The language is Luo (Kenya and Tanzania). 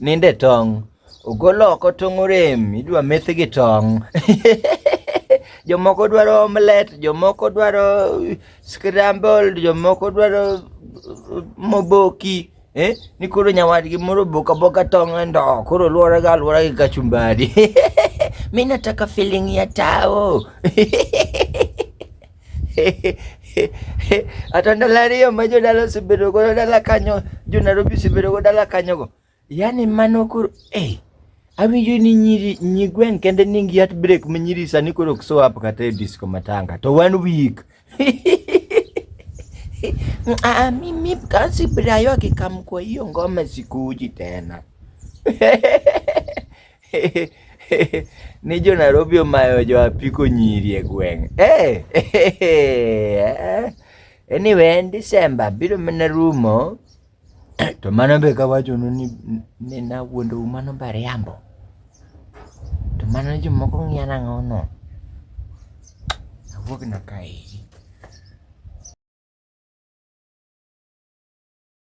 Ninde tong'. Ogol oko tong' orem, idwa meth gi tong'. Jomoko dwaro omelet, jomoko dwaro scramble, jomoko dwaro moboki. Eh, ni koro nyawadgi moro boka boka tong' e ndo, koro luore ga luore gi kachumbari. Mimi nataka feeling ya tao. Ata ndalo ariyo ma jodala osebedo godo dala kanyo, jo Nairobi osebedo godo dala kanyo go. Yaani mano koro eh awinjo ni nyiri nyigwen kende ni ngi at break ma nyiri sani koro ok show up kata e disco matanga to one week Ah, mimi kasi brayo akikamkwa hiyo ngoma sikuji tena ni jo Nairobi omayo jo apiko nyiri e gweng' eh, eh, anyway en December biro mana rumo to mano be kawachonu ni, ni nawuondou mano bariambo to mano jomoko ng'iya nang'ono awuog na kaeri